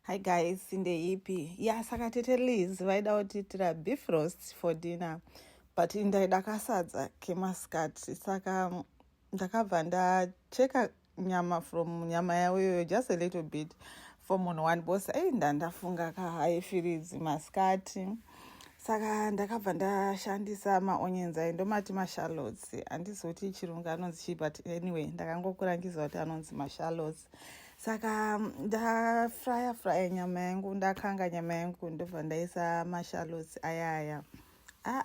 Hi guys, ndeipi? Ya saka tete Liz vaida kutiitira beef roast for dinner but ndaida kasadza kemasikati saka mm, ndakabva ndacheka nyama from nyama yavo iyoyo just a little bit for munhu one boss ei ndandafunga kahaifiridzi masikati saka ndakabva ndashandisa maonions ayi ndomati mashallots handizoti chirungu anonzi chii but anyway ndakangokurangiza kuti anonzi mashallots saka ndafraya fraya nyama yangu ndakanga nyama yangu ndobva ndaisa mashalots ayaya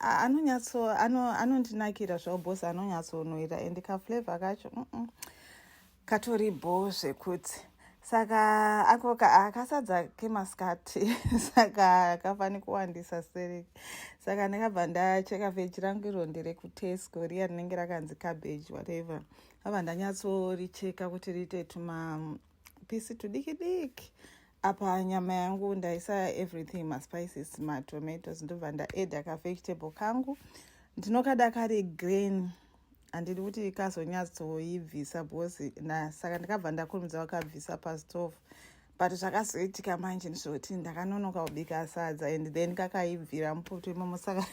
anonyatso anondinakira zvao bos anonyatsonoira and kaflavor kacho mm -mm. katori bho zvekuti saka ako akasadza kemasikati saka kafani kuwandisa seri saka ndakabva ndacheka veji rangu iro nderekutesco riya rinenge rakanzi cabbage whatever ava ndanyatsoricheka kuti riite tuma pisi tudiki diki apa nyama yangu ndaisa everything maspices matomatoes ndobva ndaeda kavegetable kangu ndinokada kari green handidi kuti kazonyatsoibvisa because saka ndikabva ndakurumidza wakabvisa pastove but zvakazoitika manje ndizvoti ndakanonoka kubika sadza and then kakaibvira mupoto imomo saka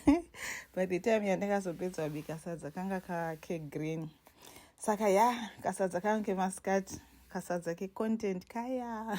by the time yandakazopedza kubika sadza kanga kake green saka ya kasadza kangu kemasikati kasadza kecontent kaya